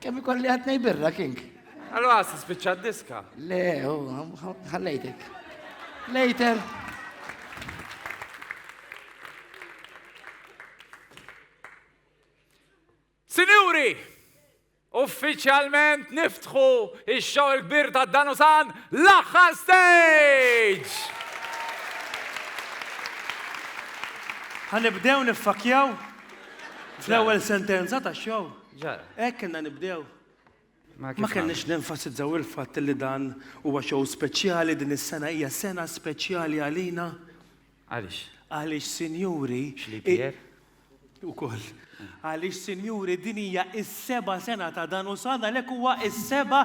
Kemm ikolli għad nej birra, King? Għallu għas, spiċċa diska. Le, ħallejtek. Later. Sinjuri, uffiċjalment niftħu ix-xogħol kbir ta' Danusan l-aħħar stage! Ħanibdew niffakjaw fl-ewwel sentenza tax-xogħol. Ġara. Hekk kellna nibdew. Ma kellniex nenfasizzaw il-fatt li dan huwa show speċjali, din is-sena hija sena speċjali għalina. Għaliex? Għaliex sinjuri. X'lipier? Ukoll. Għaliex sinjuri din hija s-seba' sena ta' dan u sa għalhekk huwa s-seba'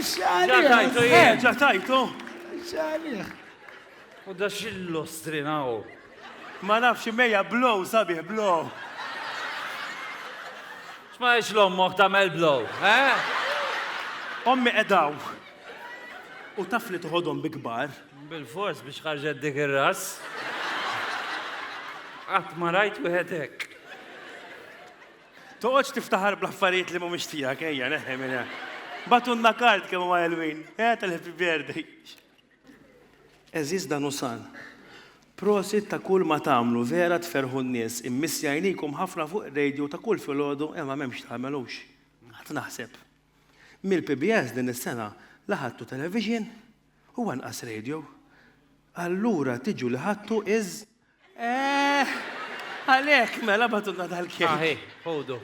Ġa tajtu, jien, ġa tajtu. Xalih. U da xillu strinaw. Ma nafx imejja blow sabiħ blow. Xma ix l-ommoħ tamel blow, eh? Ommi edaw. U taf li tuħodhom bi kbar. Bil-fors biex ħarġet dik ir-ras. Qatt ma rajt wieħed hekk. Toqgħodx tiftaħar bl-affarijiet li mhumiex tiegħek, ejja neħħi minn hemm. Bagħtulna kard kemm huwa ħelwin, eh tal-happy birthday. Għeżież Danusan, prosit ta' kull ma tagħmlu, vera tferrħu n-nies, immissi għajnikom ħafna fuq ir-radio ta' kull filgħodu imma m'hemmx tagħmel hux. Qatt naħseb. Mill-PBS din is-sena la ħadtu television u anqas radio. Allura tiġu li ħadtu iż Eh, għalek, mela batuna dal-kejk. Aħi, ħodu.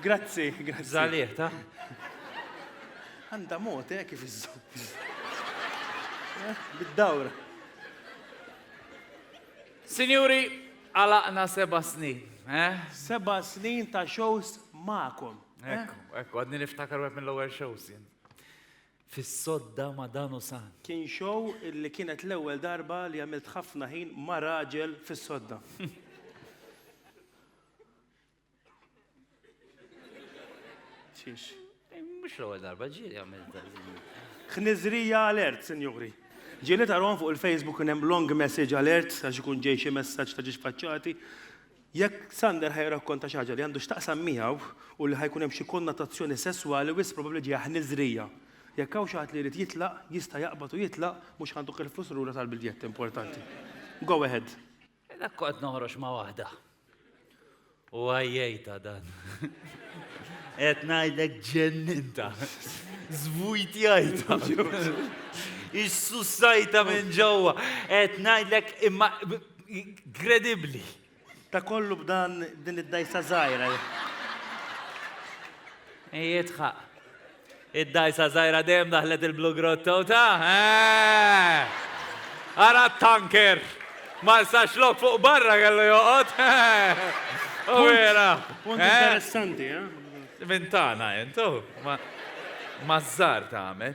Grazzi, grazzi. Zalih, ta? Għanda mot, eh, kif izzu. Eh, bid-dawra. Signori, għalaqna seba snin, eh? Seba snin ta' shows ma'kom. Eh? Ekku, ekku, għadni niftakar għed mill-lower shows jien. fis-sodda ma' dan hu san. Kien show li kienet l-ewwel darba li għamilt ħafna ħin ma' raġel fis-sodda. Xiex? Mhux l-ewwel darba, ġieli għamiltha. Ħniżrija alert, sinjuri. Ġieli tarahom fuq il-Facebook kien hemm long message alert għax ikun ġej xi messaġġ ta' ġiex faċċati. Jekk Sander ħa jirrakkonta xi ħaġa li għandu x'taqsam miegħu u li ħa jkun hemm xi konnotazzjoni sesswali wisq probabbli ġejja ħniżrija. Jekk hawn xi ħadd li jrid jitlaq, jista' jaqbad u jitlaq, mhux ħa ntuk il-flus lura tal-biljett importanti. Go ahead. Dak kont noħroġ ma' waħda. U għajjejta dan. Qed ngħidlek ġenninta. Żvujtjajta. Issussajta minn ġewwa. Qed ngħidlek imma Inkredibbli! Ta' kollu b'dan din id-dgħajsa żgħira. Jidħaq. Id-dgħajsa żgħira dejjem daħlet il-Blue Grotto ta'? Ara t-tanker! Ma sax lok fuq barra kellu joqgħod. U vera. Punt interessanti, eh? Mintana, intu. Ma żżar tagħmel.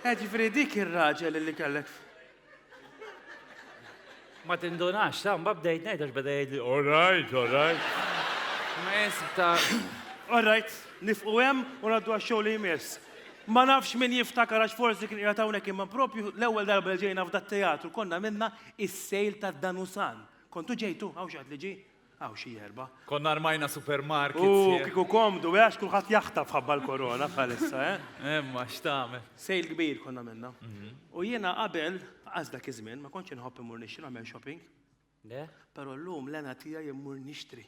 Eh, ġifri dik ir-raġel li kellek. Ma tindunax, ta' mba bdejt ngħid għax beda jgħidli, all right, all right. Ma jesib ta' All right, nifqu hemm u ngħaddu għax-xogħol li jmiss. Ma nafx min jiftakar għax forsi kien qiegħed hawnhekk imma propju l-ewwel darba li ġejna f'dat teatru konna minna is-sejl tad-Danusan. Kontu ġejtu hawn xi ħadd li ġie? Hawn xi erba'. Konna armajna supermarket. U kieku komdu, għax kulħadd jaħtaf ħabba l-korona bħalissa, eh? Imma x'tagħmel. Sejl kbir konna minna. U jiena qabel, qas dak iż-żmien, ma kontx inħobb immur nixtri nagħmel shopping. Le? Però llum l-għena tiegħi immur nixtri.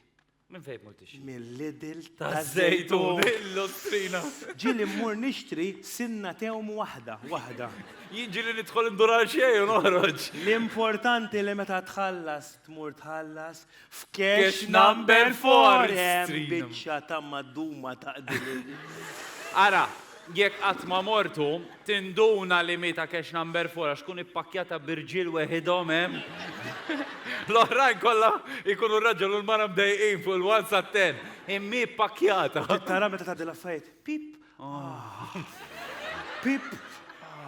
Minn fejn mur tixtri? Mill-Lidl taż-Żejtun. Il-Lustrina. Ġieli mmur nixtri sinna tewm waħda, waħda. Jien ġieli nidħol indur għal xejn u noħroġ. L-importanti li meta tħallas tmur tħallas f'cash number four hemm biċċa ta' madduma ta' qdilin. Ara, jekk qatt ma mortu, tinduna li miet a' cash number four għax tkun ippakkjata b'irġiel weħidhom hemm. L-oħrajn kollha jkunu r-raġel u l-mara mdejqin fuq il-one sat-ten. Imma hi ppakkjata. Tara meta tgħaddi l-affarijiet. Pip! Pip!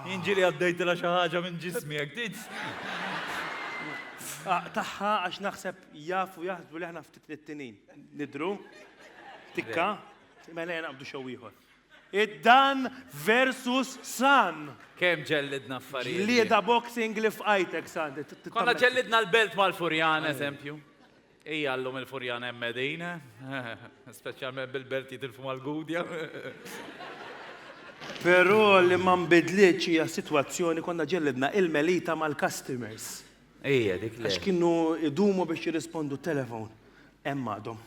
Jien ġieli għaddejtilha xi ħaġa minn ġismi hekk tgħid. Aqtagħha għax naħseb jafu jaħsbu li aħna ftit nittinin. Nidru? Tikka? Mela jien naqbdu xew ieħor. Id-dan versus san. Kemm ġellidna affarijiet. Lieda boxing li fqajtek san. Konna ġellidna l-belt mal-furjan, eżempju. Ija llum il-Furjana hemm qegħdin, speċjalment bil-belt jitilfu mal-Gudja. Però li ma nbidlitx hija s-sitwazzjoni konna ġellidna il-Melita mal-customers. Ija, dik le. Għax kienu idumu biex jirrispondu t-telefon. Hemm għadhom.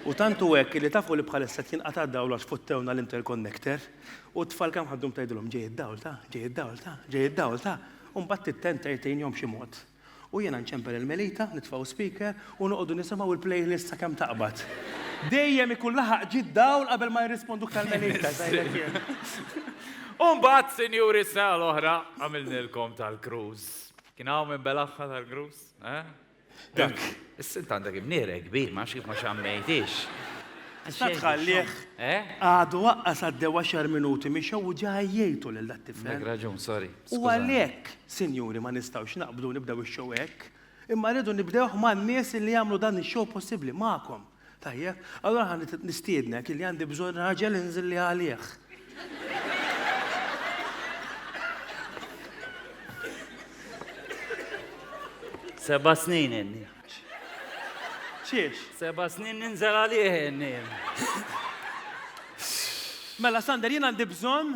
U tant hu hekk li tafu li bħalissa qed jinqata' d-dawl għax fottewna l-interconnector u t-tfal kemm ħaddhom tgħidilhom ġej id-dawl ta', ġej id-dawl ta', ġej id-dawl ta', u mbagħad tittent tgħid tgħinhom b'xi mod. U jiena nċempel il-melita, nitfgħu speaker u noqogħdu nisimgħu l-playlist sakemm taqbad. Dejjem ikun laħaq ġid dawl qabel ma jirrisponduk tal-melita. Umbagħad, sinjuri, s-sena l-oħra għamilnilkom tal-cruise. Kien hawn minn Belagħha tal-cruise? Eh? Dak. Is-sint għandek imniere kbir, ma kif ma xammejtix. Issa tħallih. Eh? Għadu waqqas għaddew 10 minuti mixew u ġaj jgħidu lil dat-tifel. Dak raġun, sorry. U għalhekk, sinjuri, ma nistgħux naqblu nibdew ix-show hekk, imma rridu nibdewh man-nies illi jagħmlu dan ix-show possibbli, magħkom. Tajjeb? Allura ħa nistiednek illi għandi bżonn raġel inżilli għalih. Seba' snin inni. Xiex? Seba' snin ninżel għalih inni. Mela Sander, jien għandi bżonn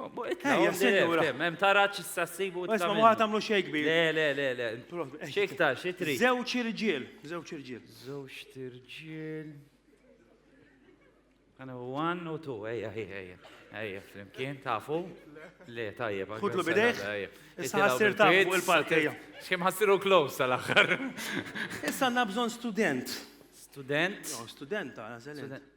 Ejja, sinjura. Hemm taraġ issa ssibu. Isma' ma tagħmlu xejn kbir. Le, le, le, le. X'iktar, xi trid? Żewġ irġiel, żewġ irġiel. Żewġ irġiel. Għana one u two, ejja, ejja, ejja. Ejja, flimkien, tafu? Le, tajjeb. Kudlu bidejk? Issa ħassir ta' fuq il-park, ejja. Xim ħassiru close tal-axħar. Issa għanna bżon student. Student? Student, għana student.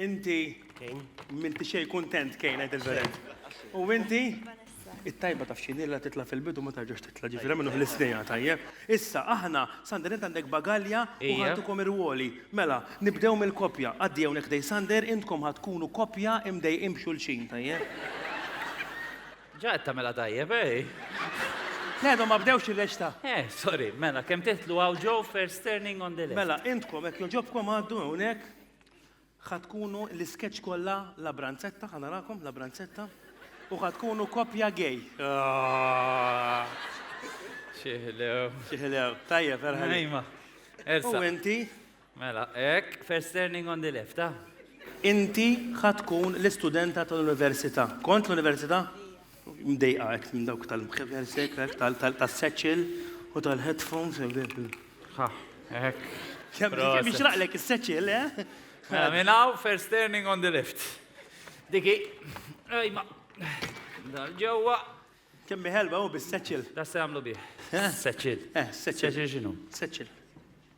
Inti m'inti xejn kuntent, Kane, għid il-verit'. U inti? It-tajba taf x'inhi la titla' fil-bidu u ma terġax titla', ġifieri għamillu fl-isnejha, tajjeb? Issa, aħna, Sander int għandek bagalja u ħadtukom ir-rwoli. Mela, nibdew mill-koppja. Għaddi hawnhekk ħdej Sander, intkom ħa tkunu koppja imdejqin b'xulxin, tajjeb? Ġa qed tagħmilha tajjeb, eh? Le, għadhom ma bdewx ir-reċta. Eh, sorry, mela, kemm titlu hawn ġo first turning on the left. Mela, intkom hekk jogħġobkom għaddu hawnhekk. Ħa tkunu l-iskeċċ kollha La Branzetta, ħa narakom La Branzetta, u ħa tkunu koppja gay. Xiħlew. Xiħlew, tajjeb, erħel. Ejma. Elsa. U inti? Mela, ek, first turning on the left, ah. Inti ħa tkun l-istudenta tal-università. Kont l-università? Mdejqa hekk minn dawk tal-mħeversek, tas-seċil u tal-headphones. Kemm ixraqlek is-seċil, eh? Mela, minn hawn first turning on the left. Diki, ejma, dal ġewwa. Kemm ħelwa hu bis-seċil. Da se jagħmlu bih. Seċil. Seċil x'inhu? Seċil.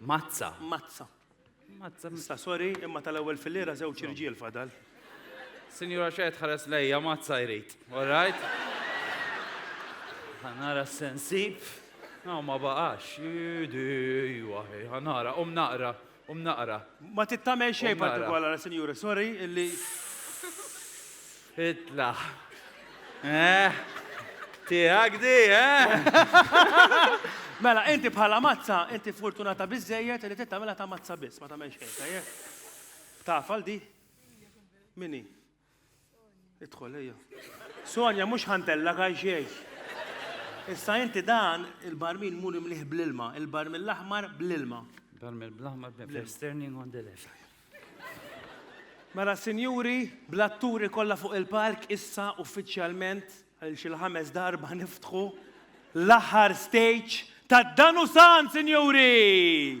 Mazza. Mazza. Mazza. Issa, sorry, imma tal-ewwel fil-lira żewġ irġiel fadal. Sinjura xejn tħares lejja mazza jrid, all right? Ħanara s-sensib. No, ma baqax. Idi, waħi, ħanara, um naqra, um naqra. Ma tittamel xejn partikolara, sinjura, sorry, illi. Itla'. Eh, tiegħek di, eh? Mela, inti bħala mazza, inti fortunata biżejjed li tittamela ta' mazza biss, ma tagħmel xejn, tajjeb. Tafal di? Mini? Idħol, ejja. Sonja, mhux ħantella kaj xejn. Issa inti dan il-barmin mur imliħ bl-ilma, il-barmin l-aħmar bl-ilma. Barmin bl-aħmar bl-ilma. Sterning on the left. Mela sinjuri, bl-atturi kollha fuq il-palk issa uffiċjalment għal xi l-ħames darba niftħu l-aħħar stage ta' Danusan, sinjuri!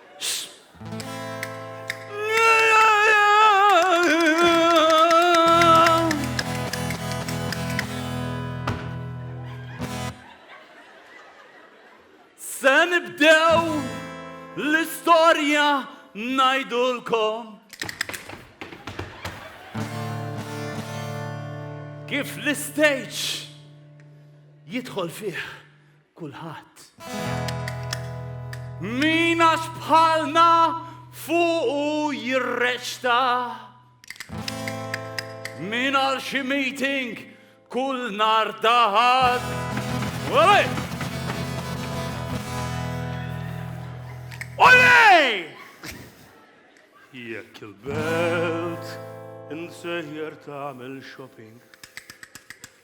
Se nibdew l-istorja najdulkom. Kif l-istage jidħol fih kulħadd. Min għax bħalna fuqu jirreċta. Min għal xi meeting kull nar taħad. Olej! Olej! Jekk il-belt insejjer tagħmel shopping.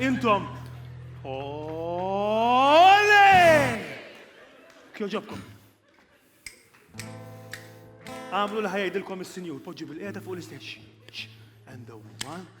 Intom. Ole! Kjoġobkom. Għamlu li ħajajdilkom il-sinjur, poġġi bil-qeda fuq l-isteċ. And the one.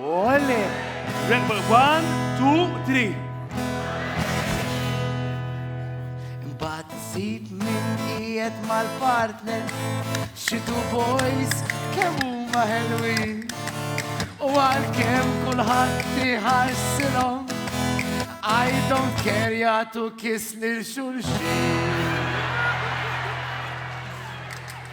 Ole! Rebel one, two, three. Bat zid minn ijet mal-partner, xitu boys, kemm huma ħelwin. U għal-kem kulħadd tiħarsilhom, I don't care jagħtu kiss lil xulxin.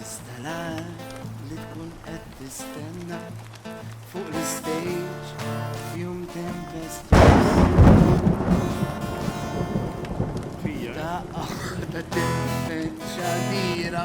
Iżda l-għan li tkun qed tistenna fuq l-istejġ f'jum tempestuż. Fija. Daqqa waħda tempeċċa dira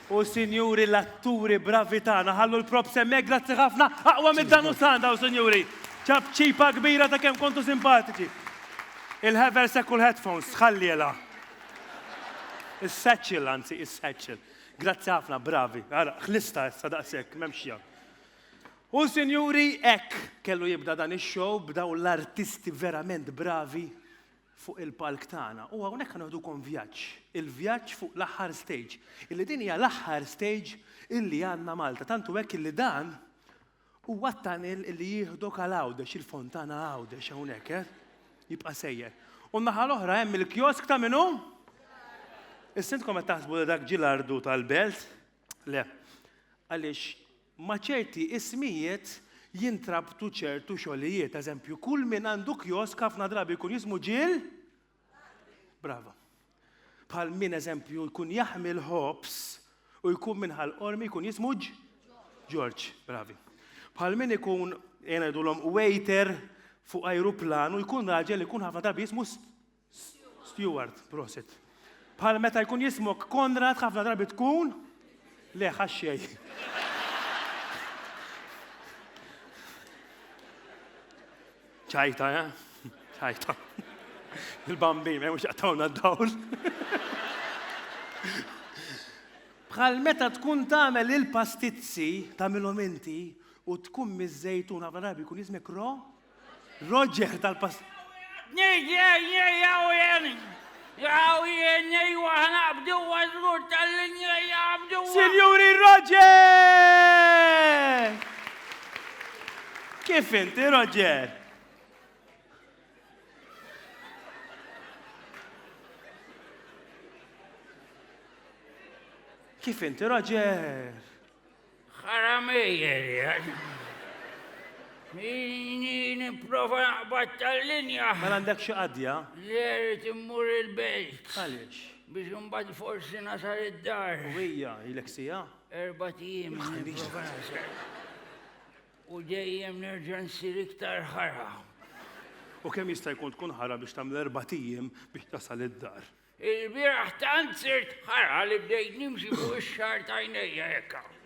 U sinjuri l-atturi bravi tagħna ħallu l-props hemmhekk grazzi ħafna aqwa mid-dan u sand hawn sinjuri. Ċapċipa kbira ta' kemm kontu simpatiċi. Il-haversack u l-headphones tħallielha. Is-satchel anzi is-satchel. Grazzi ħafna bravi. Ara ħlista issa daqshekk m'hemmx x'jagħmel. U sinjuri hekk kellu jibda dan ix-show b'dawn l-artisti verament bravi. fuq il-palk tagħna u hawnhekk ħanoħdukom vjaġġ, il-vjaġġ fuq l-aħħar stage, illi din hija l-aħħar stage illi għandna Malta, tant hu hekk illi dan huwa t-tunnel illi jieħdok għal Għawdex, il-Fontana Għawdex hawnhekk, eh? Jibqa' sejjer. U n-naħa l-oħra hemm il-kiosk ta' min hu? Issintkom qed taħsbu li dak ġie l-ardu tal-belt? Le. Għaliex Ma' ċerti ismijiet jintrabtu ċertu xogħlijiet. Eżempju, kull min għandu kjosk ħafna drabi jkun jismu ġiel. Brava. Bħal min eżempju jkun jaħmi l-ħobs u jkun minn ħal qormi jkun jismu ġ. Ġorġ, bravi. Bħal min ikun jgħidulhom waiter fuq ajruplan u jkun raġel ikun ħafna drabi jismu Stewart, prosit. Bħal meta jkun jismok Konrad ħafna drabi tkun le ħaxxej. ċajta, eh? ċajta. Il-bambi, ma jmux jaqtawna d-dawl. Bħal meta tkun tagħmel il-pastizzi tagħmilhom inti u tkun miż-żejtun ħafna drabi jkun jismek ro Roger tal-pass. Sinjuri Roger! Kif inti, Roger? Kif inti, Roger? Ħaramejjer, Jini niprofa naqbad tal-linja. Ma għandek xi qadja? Le, rrid immur il-belt. Għaliex? Biex imbagħad forsi nasar id-dar. U hija, ilek sija? Erba' tim. U dejjem nerġa' nsir iktar ħara. U kemm jista' jkun tkun ħara biex tagħmel erba' tim biex tasal id-dar? Il-bieraħ tant sirt ħara li bdejt nimxi fuq ix-xagħar ta' għajnejja hekk hawn.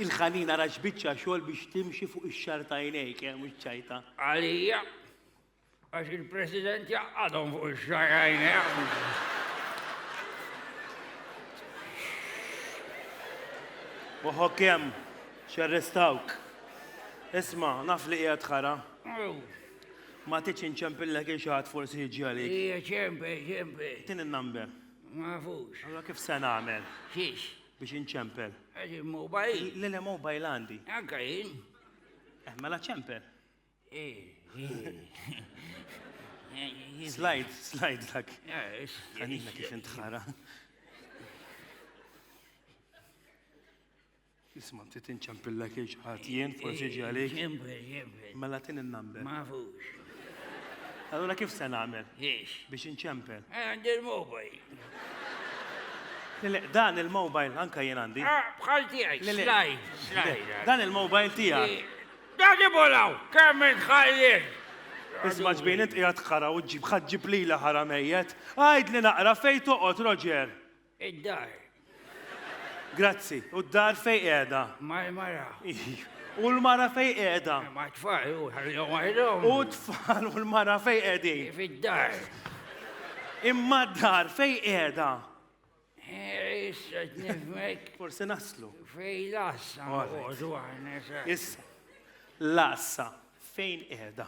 Il-ħanin ara x'biċċa xogħol biex timxi fuq ix-xagħar ta' għajnejk, eh, mhux ċajta. Għalija, għax il-President jaqqadhom fuq ix-xagħar għajnejh. Uħo kem, xarrestawk. Isma, naf li qiegħed ħara. Ma tridx inċempillek il xi ħadd forsi jiġi għalik. Hija ċempe, ċempe. Tin in-number. Ma nafux. Allora kif se nagħmel? Xiex? Biex inċempel. Għax il-mobile. Le le mobile għandi. Anka jien. Eh, mela ċempel. Eh, eh. Slide, slide dak. Għanina kif intħara. Isma, nti tinċempilla kiex ħadd jien, forsi ġi għalik. Ċempel, ċempel. Mela tin il-number. Ma fux. Allora kif se nagħmel? Ix. Biex inċempel. Eh, għandi l-mobile. Le, dan il-mobile anka jien għandi. Ah, bħal tiegħek, slaj, slaj. Dan il-mobile tiegħek. Dan ibolaw, kemm intħallil. Isma ġbin int qiegħed ħara u ġib ħaġġib lila ħara mejjet. Għajd li naqra fejn toqgħod, Roger. Id-dar. Grazzi. U d-dar fejn qiegħda? Mal-mara. U l-mara fejn qiegħda? Ma' tfal u ħallihom waħedhom. U t-tfal u l-mara fejn qegħdin? Fid-dar. Imma d-dar fejn qiegħda? Issa t-nifmek. Forsi naslu. Fej lassa. Issa. Lassa. Fejn qiegħda?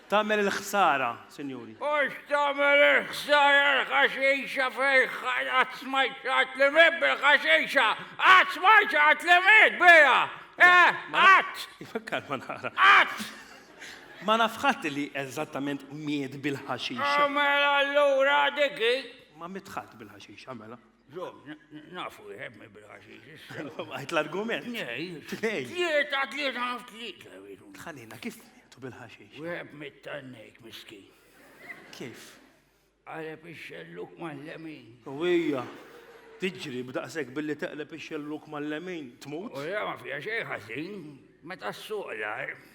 Tagħmel il-ħsara, sinjuri. Hux tagħmel il-ħsara l-ħaxixa fejn qatt smajt xi ħadd li miet bil-ħaxixa! Qatt smajt xi ħadd li miet biha! Eh, qatt! Ifakkar ma nara. Qatt! Ma naf ħadd li eżattament miet bil-ħaxixa. Mela allura dik hi. Ma miet ħadd bil-ħaxixa, mela. Ġom, nafu jħeb mi bil-ħaxix issa. Għajt l-argument. Nej. Nej. Tlieta, tlieta, naf tlieta. Tħanina, kif tu bil-ħaxix? Jħeb mit-tannek, miski. Kif? Għaleb ix-xelluk mal-lemin. U hija, tiġri b'daqsek billi teqleb ix-xelluk mal-lemin, tmut? U ja, ma fija xej ħażin, meta s-suq l-ar.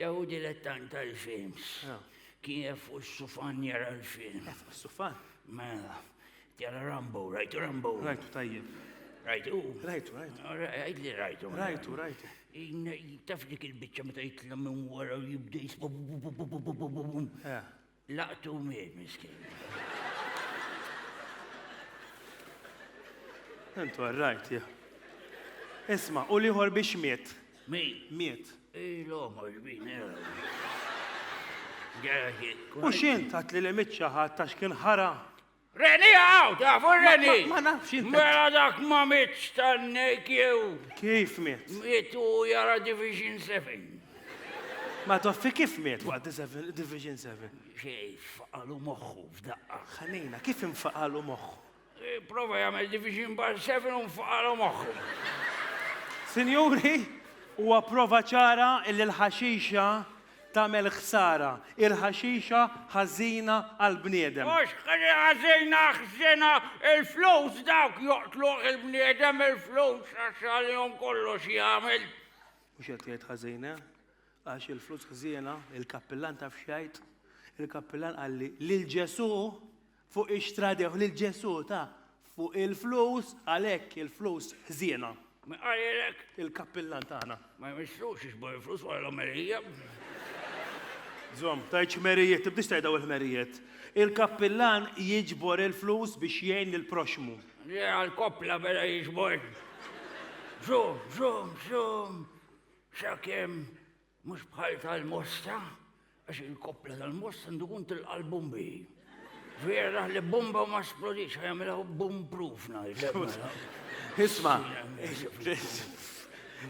Dew dilettant għall-films. Kien jaf fuq is-sufan jara l-film. Jaf fuq is-sufan? Mela, jara Rambo, rajtu Rambo. Rajtu tajjeb. Rajtu? Rajtu, rajtu. Rajtu li rajtu. Rajtu, rajtu. Taf dik il-bicċa meta jitlem minn wara u jibda jisbu. Laqtu u miet miskin. Intu għarrajt, ja. Isma, u liħor biex miet. Mi? Miet. Il-omo, il-bin, U xint għat li l-emitċa ħat ta' xkien ħara? Reni għaw, tafu reni! Ma nafx jint. Mela dak ma mitx tannek jew. Kif mit? Mit u jara Division 7. Ma toffi kif mit waqt Division 7? Xej, faqalu moħħu f'daqqa. Ħanina, kif infaqalu moħħu? E, prova jagħmel Division Bar 7 u nfaqalu moħħu. Sinjuri, huwa prova ċara illi l-ħaxixa Tagħmel ħsara, il-ħaxixa ħażina għall-bniedem. Mhux ħażina, ħżiena, il-flus dawk joqtluh il-bniedem, il-flus għax għalihom kollox jagħmel. Mhux qed jgħid ħażin, eh? Għax il-flus ħżiena, il-kappillan taf x'jgħid? Il-kappillan qalli lil Ġesù Fuq ix-xtradewh lil Ġesù ta fuq il-flus, għalhekk il-flus ħżiena. Min qal lilek? Il-kappillan tagħna. Ma jmissux iġbor il-flus wara l-omelija. Żomm, tgħidx ħmerijiet, tibdiex tgħid daw il-ħmerijiet. Il-kappillan jiġbor il-flus biex jgħin lill-proxxmu. Le għall-koppla beda jiġbor. Żomm, żomm, żomm, sakemm Mhux bħal tal-mosta, għax il-koppla tal-mosta għandu kun tilqa' l-bombi. Vera li bomba ma splodix, għamela bum proof Isma,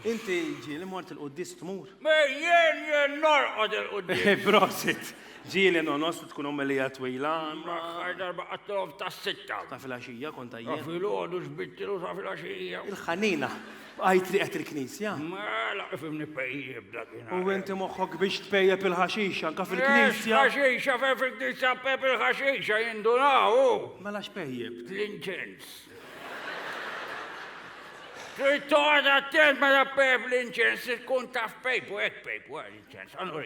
inti ġi li mort il-qoddis tmur. Me jien jien norqod il-qoddis. Eh, prosit, ġi li nonos li tkun ommelija twila. Maħħar darba għattilom ta' sitta. Ta' fil-axija konta jien. Ta' fil-ħodu xbittilu ta' fil-axija. Il-ħanina. B'qaj trieqet il-knisja? Mela kif nipejjep dakinhar. U inti moħħok biex tpejjep il-ħaxixa anke fil-knisja? Ex ħaxixa fejn fil-knisja pep il-ħaxixa jindunaw hu. Mela x'pejjep? L-inċens. Trid toqgħod attent meta pep l-inċens tkun taf pejpu hekk pejpu għal inċens. Għandu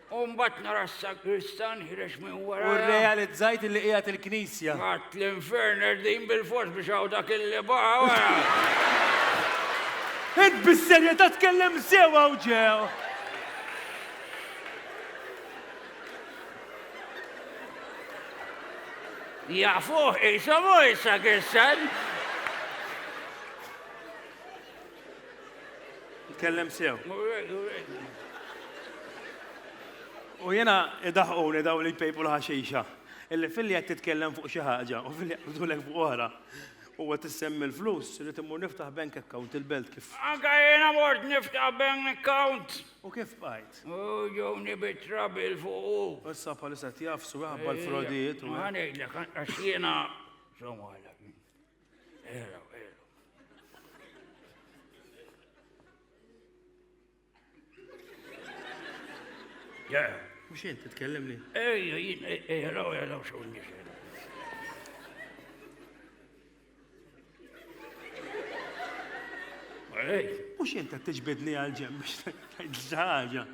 U mbagħad nara s-sagristan ħirex minn wara. U rrealizzajt li qiegħed il-knisja. Għad l-infern erdin bil-fors biex hawn dak il-li baqa' wara. Int bis-serjetà tkellem sew hawn ġew. Jafuh qishom hu s-sagristan. Tkellem sew. U jena idaħquni daw li jpejpu l-ħaxixa. Illi fil-li għed titkellem fuq xi ħaġa u fil-li għabdulek fuq oħra. U għed tissemmi l-flus li timmur niftaħ bank account il-belt kif. Anka jena mort niftaħ bank account. U kif bajt? U ġewni bitra bil fuq. U s-sapa li set jafsu għabba l-frodijiet. U għanejlek, għax jena. Somma Era, era. Ja. Mux jent, t-tkellem li? Ejja, jien, ejja, raw, ejja, raw, xo nix. Ej. Mux jent, t-tġbidni għal-ġem, biex t-tġaġa.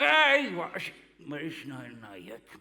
Ej, waqx, ma rix naħir najjek.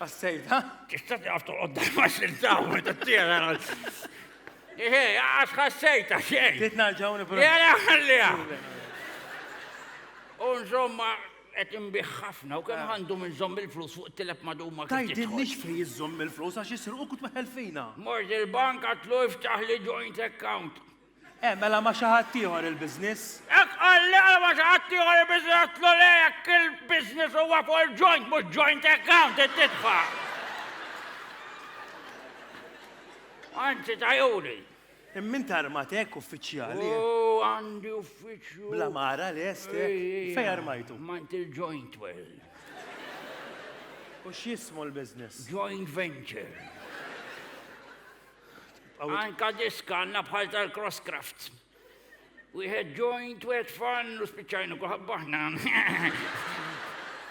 Għassejta? Tista' taf toqgħod ma xiltaw meta t-tiera. Eħe, għax ħassejta xejn. Trid narġaw nipru. Jara ħalliha. U nżomma qed inbih ħafna u kemm ah. għandu minn żomm il-flus fuq tilep maduma. Tajdilniex fejn iżżomm il-flus għax isirqu kut meħel fina. Mort il-bank għatlu iftaħ li joint account. Hekk għala ma' xi ħadd ieħor il-business? Hekk qal li għala ma' xi ħadd ieħor il-business għedtlu le jekk il-business huwa fuq il-joint mhux joint account int titfa'. Anzi tajuri. Imma int armat hekk uffiċjali. Oh, għandi uffiċċju. Bla mara lest hekk. Fejn armajtu? Mant il-joint well. U x'jismu l-business? Joint venture. Anka disk għandna bħal tal-Cross Crafts. Wieħed joint, wieħed fan, u spiċċajnu kuħabbaħna.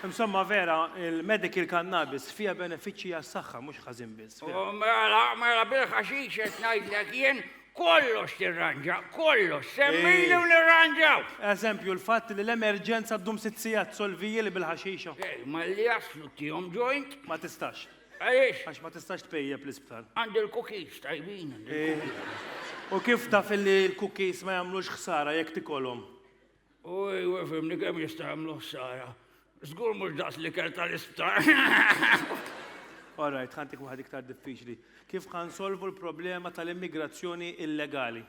Insomma vera, il-medical cannabis fija benefiċċji għas-saħħa mhux ħażin biss. Oh, mela, mela bil-ħaxix qed ngħidlek jien kollox tirranġa, kollox, semmini u nirranġaw. Eżempju, l-fatt li l-emerġenza ddum sitt sigħat solviji li bil-ħaxixa. Ma li jaslu tihom joint? Ma tistax. Għaliex? Għax ma tistax tpejjep l-isptar. Għandi l-cookies tajbin. Eh, u kif taf li l-cookies ma jagħmlux ħsara jekk tikolhom? U jwe fimni kemm jista' jagħmlu ħsara. Żgur mhux daqs li kell tal-isptar. Alright, ħantik waħed iktar diffiċli. Kif kan solvu l-problema tal-immigrazzjoni illegali?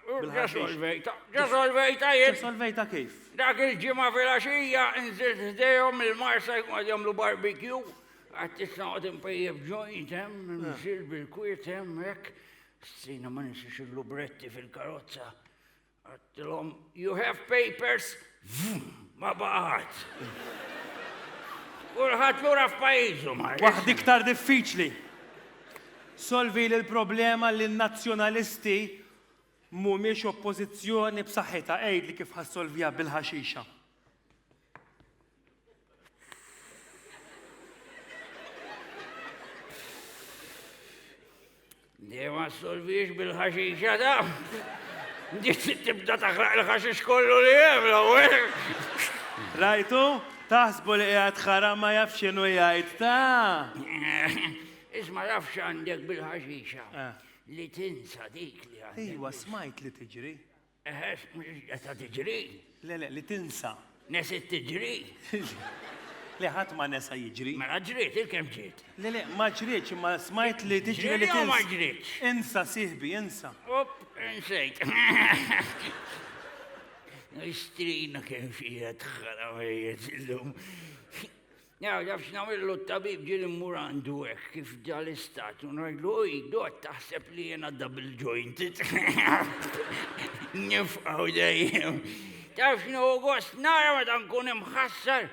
Ġasolvejta, ġasolvejta jien. Ġasolvejta kif? Dak il-ġimgħa fil-għaxija nżilt ħdejhom il-marsa jkun għad jagħmlu barbecue. Għad tista' għad impejjeb ġojt hemm, mxil bil-kwiet hemm hekk. Strina ma nixiex il-lubretti fil-karozza. Għattilhom, you have papers? Ma baqgħet. Kulħadd lura f'pajjiżu ma. Waħd iktar diffiċli. Solvi li l-problema li n-nazzjonalisti mhumiex oppożizzjoni b'saħħitha għid li kif ħassolvija bil-ħaxixa. Dima s-solviex bil-ħaxixa da. Dit tibda taħraq il-ħaxix kollu li jem, l-għu. Rajtu, taħsbu li għad ħara ma jafxinu jgħajt ta' Isma jafx għandek bil-ħaxixa. Eh. Li tinsa dik li għandek. Iwa, smajt li tiġri. Eħes, mhux qed tiġri? Le, le, li tinsa. Nesit tiġri? Le ħadd ma nesa jiġri. Mela ġriet, il-kemm ġiet. Le le, ma ġrietx imma smajt li tiġri li tinsa. ma ġrietx. Insa sihbi, insa. Up, insejt. Istrina kemm xi qed ħaramejiet illum. Nagħraf x'nagħmillu t-tabib ġieli mmur għandu hekk kif ġa l-istat u ngħidlu hu jgħod taħseb li jiena double jointed. Nifqgħu dejjem. Taf x'nu gost nara meta nkun imħassar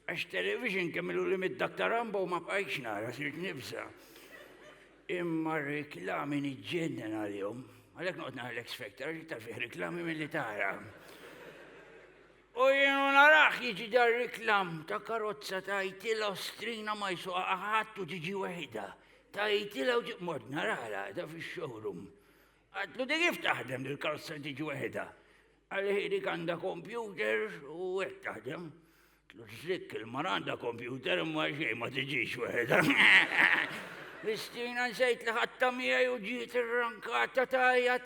għax television kemm ilu li mid Dr. Rambo ma bqajtx nara sirt nibsa. Imma reklami niġġennen għalihom. Għalhekk noqgħod nara l-X Factor għax iktar fih reklami milli tara. U jien u narah jiġi dar-riklam ta' karozza tgħidtilha u strina ma jsuqha ħadd u tiġi weħidha. Tgħidtilha u mort narala da fix-showroom. Għadtlu di kif taħdem dil-karozza li tiġi weħidha? Qalli hi dik għandha kompjuter u hekk taħdem. Tlu ġlik il-mara għandha kompjuter imma xejn ma tiġix weħidha. L-istrina nsejt li ħadta miegħi u ġiet irrankata tajjat.